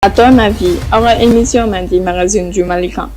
À ton avis, aw ka émission mandi magazine du Mali kan.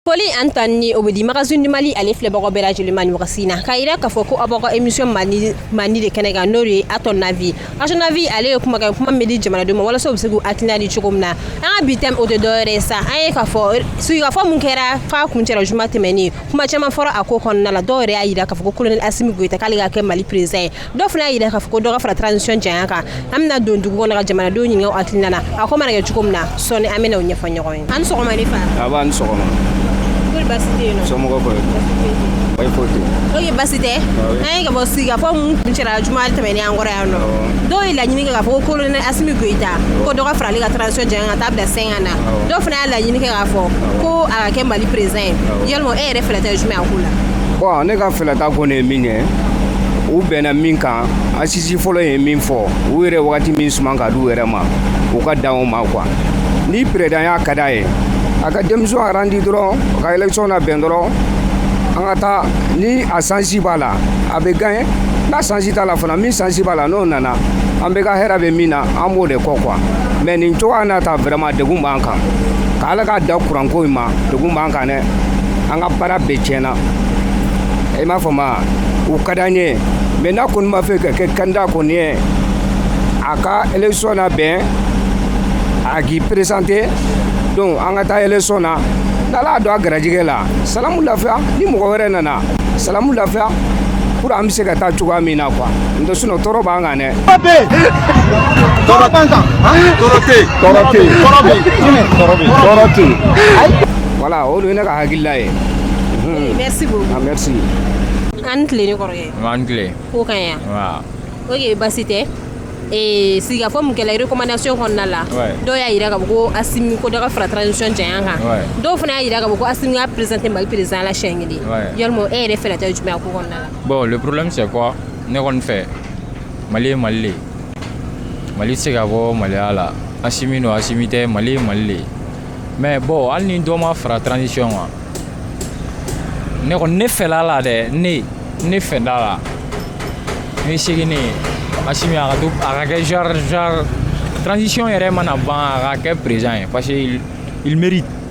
Foli ani tanuni o bɛ di magazine du Mali ale filɛbagaw bɛɛ lajɛlen ma nin wagati in na k'a jira k'a fɔ ko aw b'aw ka émission mandi mandi de kɛnɛ kan n'o de ye à ton avis à ton avis ale ye kumakan kuma min bɛ di jamanadenw ma walasa u bɛ se k'u hakilina di cogo min na an ka bi thème o tɛ dɔwɛrɛ ye sa an ye k'a fɔ sigikafɔ min kɛra f'a kuncɛra juma tɛmɛnen kuma caman fɔra a ko kɔnɔna la dɔw yɛrɛ y'a jira k'a fɔ ko colonel Asimi Goyita k'ale ka kɛ Mali président ye dɔ fana y'a jira k'a fɔ ko dɔ ka fara transition janya kan an bɛna don dugu kɔnɔ ka jamanadenw ɲininka u hakilina na a ko mana kɛ cogo min na sɔɔni an bɛna o ɲɛfɔ ɲɔgɔn ye an ni sɔgɔma ne fa nba a ni sɔgɔma kori baasi tɛ yen nɔ somɔgɔ kɔrɔ baasi foyi tɛ yen ok baasi tɛ an ye k'a fɔ sigikafɔ minnu kuncɛra juma tɛmɛnen an kɔrɔ yan nɔ dɔw ye laɲini kɛ k'a fɔ ko kolonɛli asimi goyita ko dɔ ka fara ale ka transition janya ka taa bila sɛnkan na dɔw fana y'a laɲini kɛ k'a fɔ ko a ka kɛ mali perezidan ye yalima E yɛrɛ fɛla ta ye jumɛn ye a ko la? Bon ne ka fɛla ta kɔni ye min ye, u bɛnna min kan assise fɔlɔ ye min fɔ, u yɛrɛ wagati min suman ka di u yɛrɛ ma, u ka dan o ma quoi ni présidentya ka d'a ye, a ka démission arandi dɔrɔn ka élection nabɛn dɔrɔn an ka taa ni a chance b'a la a bɛ gagner n'a chance t'a la fana min chance b'a la n'o nana an bɛɛ ka hɛrɛ bɛ min na an b'o de kɔ quoi mais nin cogoya in na tan vraiment degun b'an kan, ka Ala ka dan courant ko in ma degun b'an kan. an ka baara bɛɛ tiɲɛna i m'a faamu u ka di an ye mɛ n'a kɔni b'a fɛ ka kɛ kandida kɔni ye a ka election nabɛn a k'i peresante donc an ka taa election na n'ala y'a don a garijɛgɛ la salamu lafiya ni mɔgɔ wɛrɛ nana salamu lafiya pour an bɛ se ka taa cogoya min na quoi n'o tɛ sinɔn tɔɔrɔ b'an kan dɛ voilà o de ye ne ka hakilila ye merci beaucoup ah, merci an ni tile n kɔrɔkɛ an ni tile ko ka ɲi yan ok baasi tɛ Eh, sigikafɔ min kɛla recommandation kɔnɔna la dɔw y'a yira k'a fɔ ko asimi ko dɔ ka fara transition janya kan dɔw fana y'a yira k'a fɔ ko asimi k'a présenter mali président la siɲɛ kelen yalima e yɛrɛ fɛla ta ye jumɛn ko kɔnɔna la bon le problème c'est quoi ne kɔni fɛ mali ye mali le ye mali tɛ se ka bɔ maliya la asimi don asimi tɛ mali ye mali le ye mais bon hali ni dɔ ma fara transition kan ne kɔni ne fɛla la dɛ ne ne fɛla la ne segin ne asimi a ka to a ka kɛ genre genre transition yɛrɛ mana ban a ka kɛ président ye parce que il mérite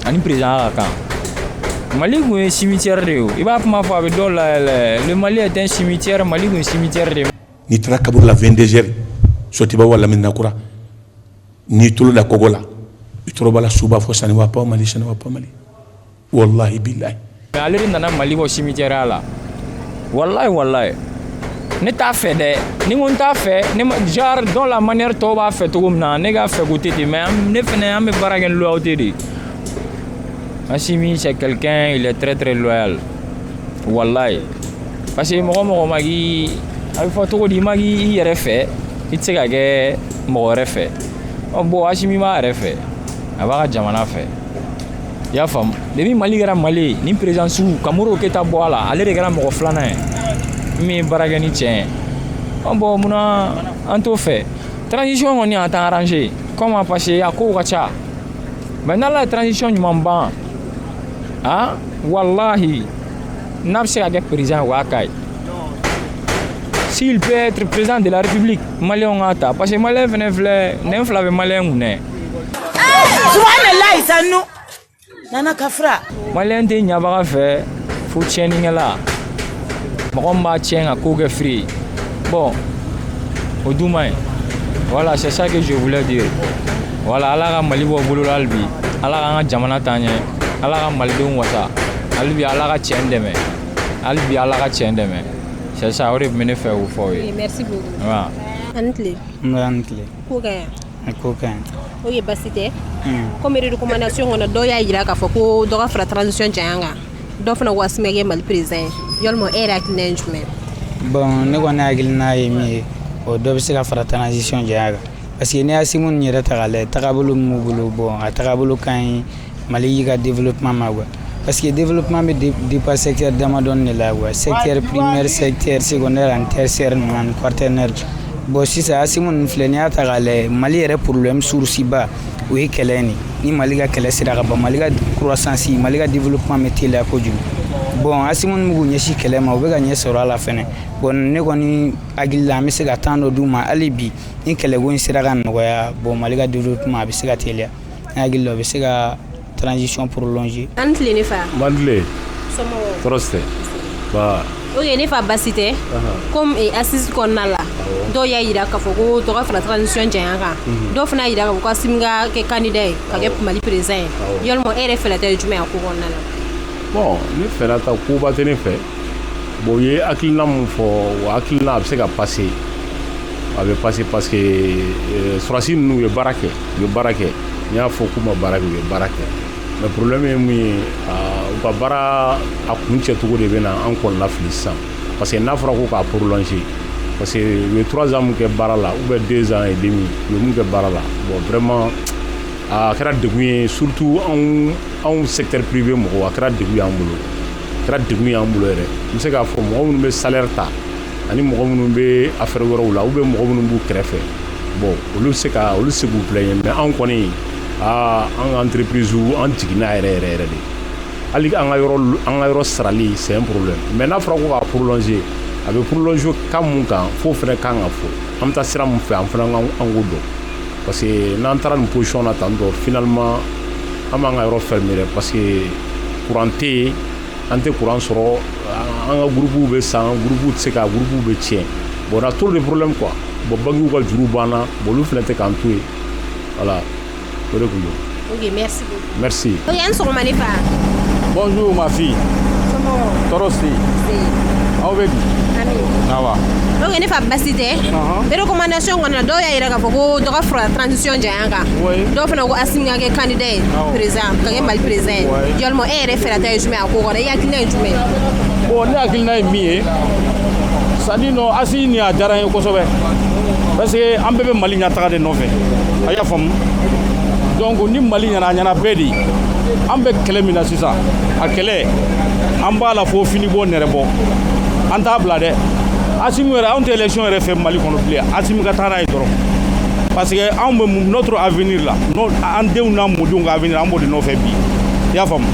a ni perezidanya ka kan mali tun ye cimetière de ye i b'a kuma fɔ a bɛ dɔw layɛlɛ le mali est un cimetière mali tun ye cimetière de ye n'i taara kaburu la 22 heures sotuba wala medinakura n'i y'i tolo da kogo la i tolo b'a la suw b'a fɔ ça ne va pas mali ça ne va pas mali walahi bilayi ale de nana mali bɔ simijɛya la walayi walayi ne t'a fɛ dɛ ni ko n t'a fɛ ne jar dɔ la maliyɛn tɔw b'a fɛ cogo min na ne k'a fɛ ko tɛ ten mais ne fana an bɛ baara kɛ loyauté de asimi c'est quelqu'un il est très très loyal walayi parce que mɔgɔ mɔgɔ ma k'i a bɛ fɔ cogo di i ma k'i yɛrɛ fɛ i tɛ se ka kɛ mɔgɔ wɛrɛ fɛ ɔ bon asimi b'a yɛrɛ fɛ a b'a ka jamana fɛ i y'a faamu depuis mali kɛra mali ye ni président sigi ka modibo keyita bɔ a la ale de kɛra mɔgɔ filanan ye min ye baara kɛ ni tiɲɛ ye an bon munna an t'o fɛ transition kɔni a t'an arrange quand même parce que a kow ka ca mais n'ala ye transition ɲuman ban a walahi n'a bɛ se ka kɛ président o y'a ka ye s'il peut être président de la république maliyɛnw k'a ta parce que maliyɛn fɛnɛ filɛ nɛn fila bɛ maliyɛn kun dɛ subahanallahi sannu nana ka fura maliyɛn tɛ ɲabaga fɛ fo tiɲɛnikɛla mɔgɔ min b'a tiɲɛ ka ko kɛ firi ye bon o dun man ɲi voilà c'est ça que je voulais dire voilà ala ka mali bɔ bɔlɔ la hali bi ala k'an ka jamana taa ɲɛ ala ka malidenw wasa hali bi ala ka tiɲɛ dɛmɛ hali bi ala ka tiɲɛ dɛmɛ c'est ça o de tun bɛ ne fɛ k'o fɔ aw ye merci beaucoup a ni tile a ni tile ko ka yan o ye basi tɛ komikumana so kɔnɔ dɔw y'a jira k'a fɔ ko dɔgɔ fara taara nisɔn jan kan dɔw fana waati ye mali perez ye ya e yɛrɛ tun ye jumɛn bɔn ne kɔni hakili n'a ye min ye o dɔ bɛ se ka fara tanranasi jan kan parce que ne ya semu yɛrɛ ta la taabolo bolo bɔ a taabolo kan ye mali yɛrɛ ka développement ma quoi parce que développement bɛ dépend secteur damadɔni de la quoi secteur primaire secteur secondaire ani tertiaire ninnu ani quaternaire bon sisan asimi ninnu filɛ n'i y'a ta k'a lajɛ mali yɛrɛ problème source ba o ye kɛlɛ in de ni mali ka kɛlɛ sera ka ban mali ka croissance mali ka développement bɛ teliya kojugu bon asimi ninnu b'u ɲɛsin kɛlɛ ma u bɛ ka ɲɛ sɔrɔ a la fɛnɛ bon ne kɔni hakili la an bɛ se ka temps dɔ d'u ma hali bi ni kɛlɛko in sera ka nɔgɔya bon mali ka développement a bɛ se ka teliya N hakili la o bɛ se ka transition prolonger A' ni tile ne fa. N ba ni tile. Somɔgɔw. Tɔɔrɔ si tɛ. Nbaa. Ok ne fa basi tɛ. Anhan. Comme ee assise kɔnɔna la. Awɔ. Dɔw y'a jira k'a fɔ ko dɔ ka fara transition janya kan. Unhun. Dɔw fana y'a jira k'a fɔ ko Assimi ka kɛ candidat ye. Awɔ. Ka kɛ Mali président ye. Awɔ. Yalima e yɛrɛ fɛla ta ye jumɛn ye a ko kɔnɔna la? Bon ne fɛla ta koba tɛ ne fɛ. bon u ye hakilina min fɔ o hakilina a bɛ se ka pase a bɛ pase parce que euh, sɔrasi ninnu u ye baara kɛ u ye baara kɛ n t'a fɔ k'u ma baara kɛ u ye baara kɛ mais problème ye mun ye u ka baara a kuncɛcogo de bɛ na an kɔnɔnafili sisan parce que n'a fɔra ko k'a prolonger parce que u ye trois ans min kɛ baara la ou bien deux ans et demi u ye min kɛ baara la bon vraiment a kɛra degun ye surtout anw anw secteur privé mɔgɔw a kɛra degun y'an bolo kɛra degun y'an bolo yɛrɛ n bɛ se k'a fɔ mɔgɔ minnu bɛ salaire ta ani mɔgɔ minnu bɛ affaire wɛrɛw la u bɛ mɔgɔ minnu b'u kɛrɛfɛ bon olu bɛ se ka olu se k'u bila ɲɛ mais anw kɔni aa an ka entreprise an jiginna yɛrɛ yɛrɛ yɛrɛ de hali an ka yɔrɔ an ka yɔrɔ sarali c'est un problème mais n'a fɔra ko k'a prolonger a bɛ prolonger ka mun kan f'o fana kan ka fɔ an bɛ taa sira mun fɛ an fana ka kan k'o dɔn parce que n'an taara nin position na tan dɔrɔn finalement An b'an ka yɔrɔ fɛ minɛ parce que kurante yen an tɛ kuran sɔrɔ an ka burubuw bɛ san burubuw tɛ se ka burubuw bɛ tiɲɛ bɔnna to de fɔlɔ kuwa bɔn bangew ka juru banna olu filɛ tɛ k'an to yen wala o de tun bɔn mafin tɔɔrɔ se aw bɛ wa ne fa basi tɛ bere komandason kɔnɔ dɔw y'a jira k'a fɔ ko dɔgɔ fura tcɔn cɛ kan dɔw fana ko Asimi ka kɛ candidat ye président ka kɛ Mali président ye yalima e yɛrɛ fɛta ye jumɛn ye a ko kɔnɔ i hakilina ye jumɛn ye bon ne hakilina ye min ye c'est à dire non Asimi nin a diyara n ye kosɛbɛ parce que an bɛɛ bɛ Mali ɲɛtaga de nɔfɛ a y'a faamu donc ni Mali ɲɛna a ɲɛna bɛɛ de ye an bɛ kɛlɛ min na sisan a kɛlɛ an b'a la fo finibɔ nɛrɛbɔ an t'a bila dɛ Asimi yɛrɛ anw tɛ élection yɛrɛ fɛ Mali kɔnɔ bilen Asimi ka taa n'a ye ye dɔrɔn parce que anw bɛ notre avenir la an denw n'an mɔdenw ka avenir an b'o de nɔfɛ bi i y'a faamu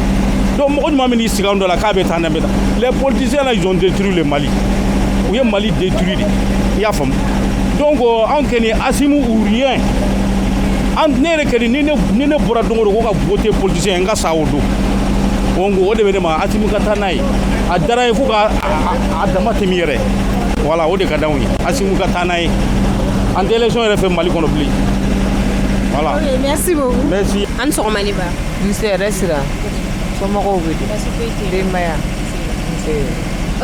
donc mɔgɔ ɲuman min n'i sigi an dɔ la k'a bɛ taa n'an bɛ taa les politiciens là ils ont détruit le Mali u ye Mali détruit de i y'a faamu donc euh, anw kɔni Asimi ou rien an ne yɛrɛ kɔni ni ne ni ne bɔra don o don ko ka voter politicien n ka sa o don o n ko o de bɛ ne ma Asimi ka taa n'a ye a diyara n ye fo ka a dama tɛmɛ yɛrɛ voilà o de ka d'anw ye Asimi ka taa n'a ye an tɛ élection yɛrɛ fɛ Mali kɔnɔ bilen voilà ok merci beaucoup merci a ni sɔgɔma ne ba nse hɛrɛ sira somɔgɔw bɛ di basi foyi tɛ yen denbaya nse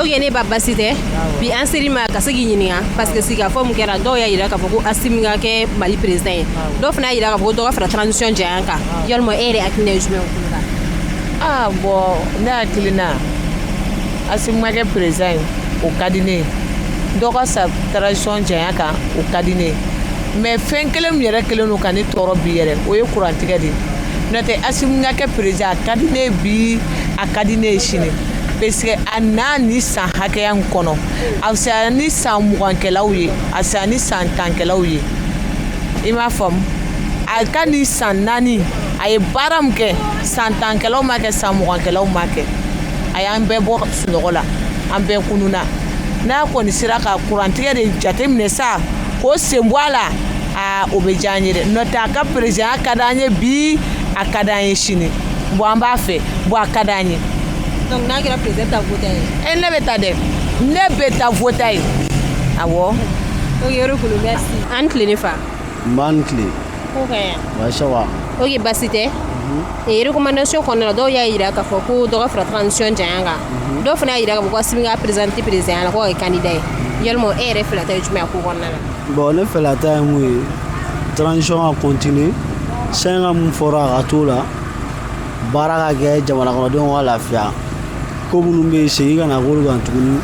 ok ne ba basi tɛ bi an sera i ma ka se k'i ɲininka parce que sigikafɔ min kɛra dɔw y'a jira k'a fɔ ko asimi ka kɛ mali président ye dɔw fana y'a jira k'a fɔ ko dɔ ka fara transition janya kan yalima e yɛrɛ hakilina ye jumɛn ye o ko la aa bon ne hakilina asimi ka kɛ président ye o ka di ne ye dɔ ka fara transition janya kan o ka di ne ye mais fɛn kelen min yɛrɛ kɛlen don ka ne tɔɔrɔ bi yɛrɛ o ye kurantigɛ de ye n'o tɛ asimi ka kɛ perezidan a ka di ne ye bi a ka di ne ye sini parce que a n'a ni san hakɛya in kɔnɔ a fisaya ni san mugankɛlaw ye a fisaya ni san tankɛlaw ye i m'a faamu a ka nin san naani a ye baara min kɛ san tankɛlaw ma kɛ san mugankɛlaw ma kɛ a y'an bɛɛ bɔ sunɔgɔ la an bɛɛ kununna n'a kɔni sera ka kurantigɛ de jateminɛ sa k'o sen bɔ a la aa o bɛ diya an ye dɛ n'o tɛ a ka perezidanya ka d'an ye bi a ka d'an ye sini bɔn an b'a fɛ bɔn a ka d'an ye donc n'a kɛra perezidan taa vote a ye e ne bɛ taa dɛ ne bɛ taa vote a ye awɔ ok yɔrɔ kolo merci a ni tile ne fa nba a ni tile oke baasi tɛ rekomandasiyɔn kɔnɔna dɔw y'a jira k'a fɔ ko dɔ ka fara transition janya kan dɔw fana y'a jira k'asimi ka présenté perezidan la ko ye candidat ye yala e yɛrɛ fɛla ta ye jumɛn ko kɔnɔna la bɔn ne fɛla ta ye min ye transition ka continuer san hakɛ min fɔra a ka to la baara ka kɛ jamanakɔnɔdenw ka lafiya ko minnu bɛ segin ka na olu kan tuguni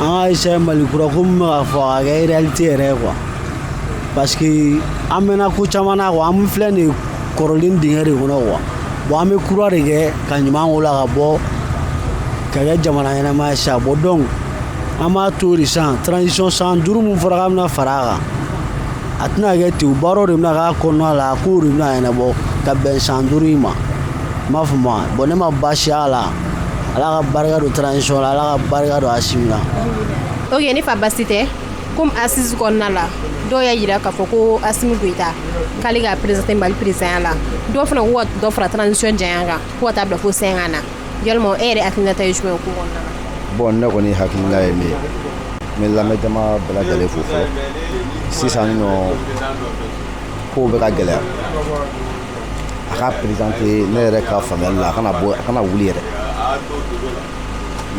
an ka se mali kura ko min bɛ ka fɔ a ka kɛ réalité yɛrɛ ye quoi parce que an mɛnna ko caman na quoi an filɛ nin ye kɔlɔn dingɛ de kɔnɔ quoi bon an bɛ kura de kɛ ka ɲuman k'o la ka bɔ ka kɛ jamana ɲɛnama ye sisan bon donc an b'a to de sisan transition san duuru min fɔra k'a bɛna fara a kan a tɛna kɛ ten o baaraw de bɛna k'a kɔnɔna la a kow de bɛna ɲɛnabɔ ka bɛn san duuru in ma n b'a fɔ ma bon ne ma baasi y'a la ala ka barika don transition la ala ka barika don asimi na ok ne fa baasi tɛ comme assise kɔnɔna la dɔw y'a yira k'a fɔ ko asimi goyita k'ale ka présenté mali présidenya la dɔw fana ko ka dɔ fara transition janya kan ko ka taa bila fo cinq ans na yalima e yɛrɛ hakilinata ye jumɛn ye ko kɔnɔna la bon ne kɔni hakilina ye min ye n bɛ lamɛn jama bɛɛ lajɛlen fo fɔlɔ sisan nɔ kow bɛ ka gɛlɛya a ka présenté ne yɛrɛ ka faamuyali la a kana bɔ a kana wuli yɛrɛ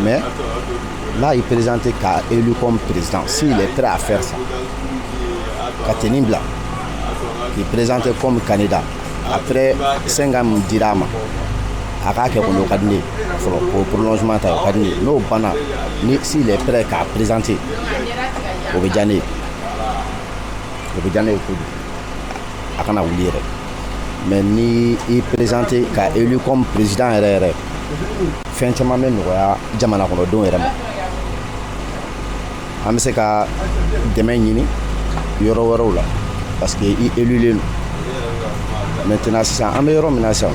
Mais n'a y'i présenter ka élu comme président, s'il est prêt à faire ça. Ka tenue bila k'i présenter comme candidat. Après, 5 ans, min dira a ma a k'a kɛ kɔni o ka di ne ye fɔlɔ k'o prolongement ta o ka di ne ye n'o banna ni s'il est prêt k'a présenter o bɛ diya ne ye o bɛ diya ne ye kojugu a kana wuli yɛrɛ mais ni i présenter ka élu comme président yɛrɛ yɛrɛ fɛn caman bɛ nɔgɔya jamana kɔnɔdenw yɛrɛ ma an bɛ se ka dɛmɛ ɲini yɔrɔ wɛrɛw la parce que i élulen don maintenant sisan an bɛ yɔrɔ min na sisan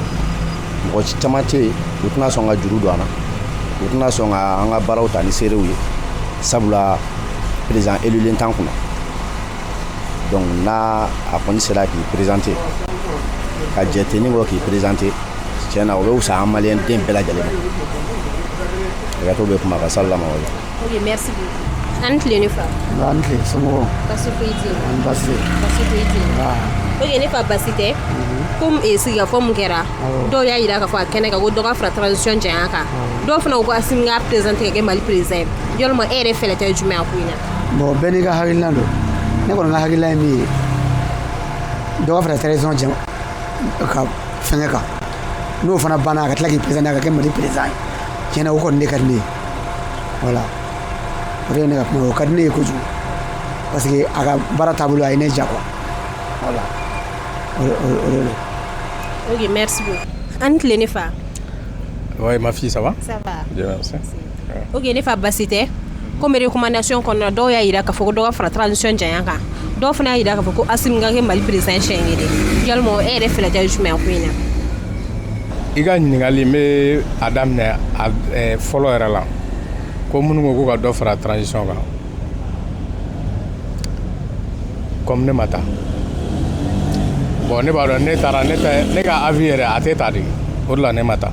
mɔgɔ caman tɛ yen u tɛna sɔn ka juru don an na u tɛna sɔn ka an ka baaraw ta ni sérieux ye sabula président élulen t'an kunna donc n'a a kɔni sera k'i présenter ka jɛ tenue kɔ k'i présenter tiɲɛ na o bɛ wusa an malien den bɛɛ lajɛlen ma hakɛto bɛ kuma kan salamalekum ok merci beaucoup an ni tile ne fa Nba i ni tile somɔgɔw basi foyi tɛ yen ani basi tɛ yen. basi foyi tɛ yen Nba ok ne fa basi tɛ ko eh, sigikafɔ min kɛra dɔw y'a jira k'a fɔ a kɛnɛ kan ko dɔ ka fara transition janya kan dɔw fana ko ko Assimi k'a présenter ka kɛ mali président ye yalima e yɛrɛ fɛlata ye jumɛn ye ko in na bon bɛɛ n'i ka hakilila don ne kɔni ka hakilila ye min ye dɔ ka fara transition ka fɛnkɛ kan n'o fana banna a ka tila k'i présenter a ka kɛ mali président ye tiɲɛ na o kɔni de ka di ne ye voilà o de ye ne ka kuma o ka di ne ye kojugu parce que a ka baara taabolo a ye ne ja quoi voilà o de o de ok merci beaucoup an ni tile ne fa Oui, ma fille, ça va Ça va. Bien, merci. Ok ne fa basi tɛ ko recommandation kɔnɔ dɔw y'a jira k'a fɔ dɔ ka fara transition janya kan dɔw fana y'a jira k'a fɔ ko a kɛ mali président ye yala e yɛrɛ fɛlata ye jumɛn ye ko in na i ka ɲininkali bɛ a daminɛ fɔlɔ yɛrɛ la ko minnu ko ko ka dɔ fara transition kan comme ne ma taa bon ne b'a dɔn ne taara ne ka avis yɛrɛ a tɛ ta dɛ o la ne ma taa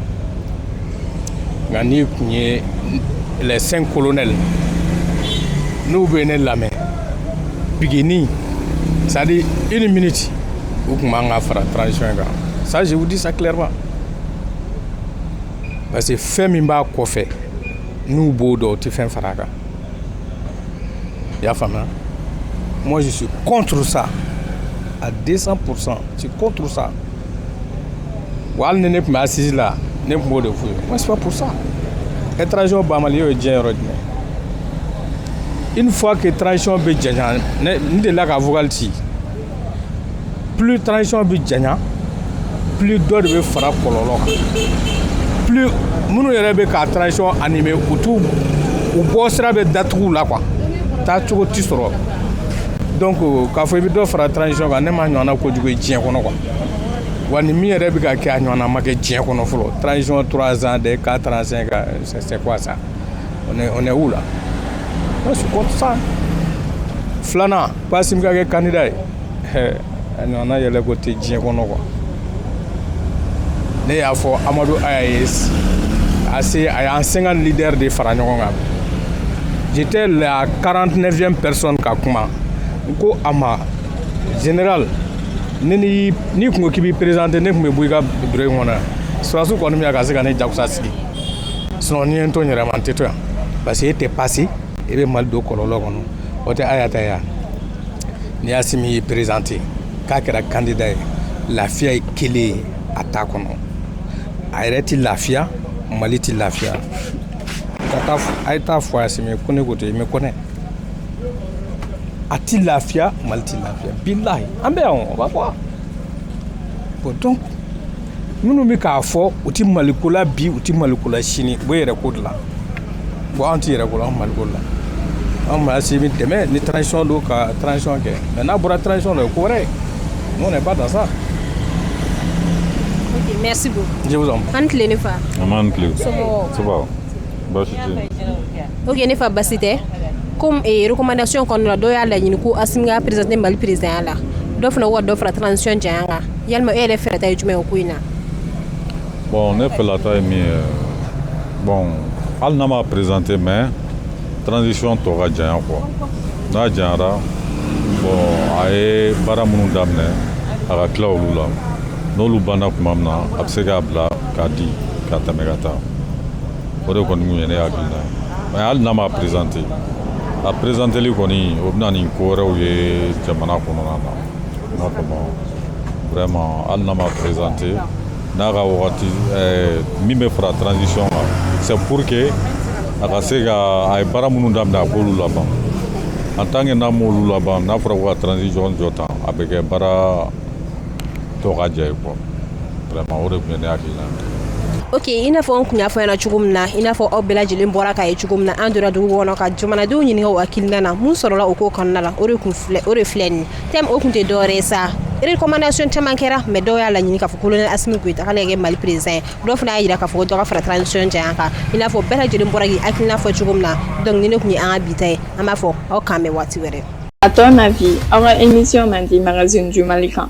nka ni tun ye lɛsen kolonɛ la n'u bɛ ne lamɛn bini sa i ni mini ci u tun b'an ka fara tarawelec kan saze u disa tilema parce que fɛn min b'a kɔfɛ n'u b'o dɔn o tɛ fɛn fara kan i y'a faamuya mɔgɔ su kɔn sa a dɛsɛsa psan si kɔn sa Voilà ni ne tun bɛ assises la ne tun b'o de fɔ u ye ça eh transition banbali y'o diɲɛ yɔrɔ jumɛn une fois que transition bɛ janɲa n de la ka fugli ci plus transition bɛ janɲa plus dɔ de bɛ fara kɔlɔlɔ kan plus minnu yɛrɛ bɛ ka transition animer u u bɔ sira bɛ datugu u la k'u taa cogo tɛ sɔrɔ donc k'a fɔ i bɛ dɔ fara transition kan ne m'a ɲɔgɔnna kojugu ye diɲɛ kɔnɔ quoi wa ni min yɛrɛ bɛ ka kɛ a ɲɔgɔnna ma kɛ diɲɛ kɔnɔ fɔlɔ transition 3 ans de 4 ans 5 ans c'est quoi ça on est on est où là moi je suis contre ça filanan Assimi ka kɛ candidat ye a ɲɔgɔnna yɛlɛko tɛ diɲɛ kɔnɔ quoi ne y'a fɔ amadu aya ye ase a y'an 50 lidɛri de fara ɲɔgɔn kan j'étais la 49e personne ka kuma n ko a ma général ne ni n'i kun ko k'i b'i présenter ne kun bɛ bɔ i ka bureau in kɔnɔ sɔrɔdasiw kɔni bɛ yan ka se ka ne jagoya ka sigi sinon n'i ye n to n yɛrɛ ma n tɛ to yan parce que e tɛ passer e bɛ mali don kɔlɔlɔ kɔnɔ o tɛ a y'a ta yan ni asimi y'i perezante k'a kɛra kandida ye lafiya ye kelen ye a ta kɔnɔ a yɛrɛ tɛ lafiya mali tɛ lafiya a ye taa fɔ asimi ko ne ko ten i mɛ kɔnɛ a tɛ lafiya mali tɛ lafiya bilahi an bɛ yan o b'a fɔ bɔn donc minnu bɛ k'a fɔ u tɛ maliko la bi u tɛ maliko la sini u b'u yɛrɛ ko de la bon an tɛ yɛrɛ ko la an maliko la an b'asimi dɛmɛ ni transition don ka transition kɛ mɛ n'a bɔra transition la o ye ko wɛrɛ ye on n'est pas dans ça Ok, merci beaucoup. je vous en prie A ni tile ne fa. Nba a ni kile. Somɔgɔw. Soba. Baasi tɛ. Ok, ne fa baasi tɛ. Comme eh, recommandation kɔnɔna la dɔw y'a laɲini ko Asimi k'i présenter Mali présidentya la. Dɔ fana ko ka dɔ fara transition janya kan. Ya e yɛrɛ fɛlata ye jumɛn ye o ko in na bɔn ne fɛlata ye min ye bɔn hali n'a ma prezante mɛ transition tɔ ka janya quoi n'a janyara a ye baara minnu daminɛ a ka tila olu la n'olu banna tuma min na a bɛ se k'a bila k'a di ka tɛmɛ ka taa o de kɔni ye ne hakilina ye mɛ hali n'a ma prezante a prezanteli kɔni o bɛ na ni ko wɛrɛw ye jamana kɔnɔna na vraiment hali n'a ma présenter n'a ka wagati eh, min bɛ fara transition kan c'est pour que a ka se ka a ye baara minnu daminɛ a k'olu laban en tant que n'a m'olu laban n'a fɔra ko ka transition jɔ tan a bɛ kɛ baara tɔ ka jɛ ye quoi vraiment o de tun ye ne hakilina ye ok i n'a fɔ an kun y'a fɔ aw ɲɛna cogo min na i n'a fɔ aw bɛɛ lajɛlen bɔra k'a ye cogo min na an donna dugu kɔnɔ ka jamanadenw ɲininka u hakilina na mun sɔrɔla o ko kɔnɔna la o de kun filɛ o de filɛ nin ye te o tun tɛ dɔwɛrɛ ye sa recommandation caman kɛra mɛ dɔw y'a laɲini k'a fɔ kolonɛli asimi goyita ka kɛ mali perezidan ye dɔw fana y'a jira k'a fɔ dɔ ka fara transition janya kan i n'a fɔ bɛɛ lajɛlen bɔra k'i hakilina fɔ cogo min na donc nin de tun ye an ka bi ta ye an b'a fɔ aw k'an bɛn waati wɛrɛ a tɔ na bi aw ka émission mardi magazine kan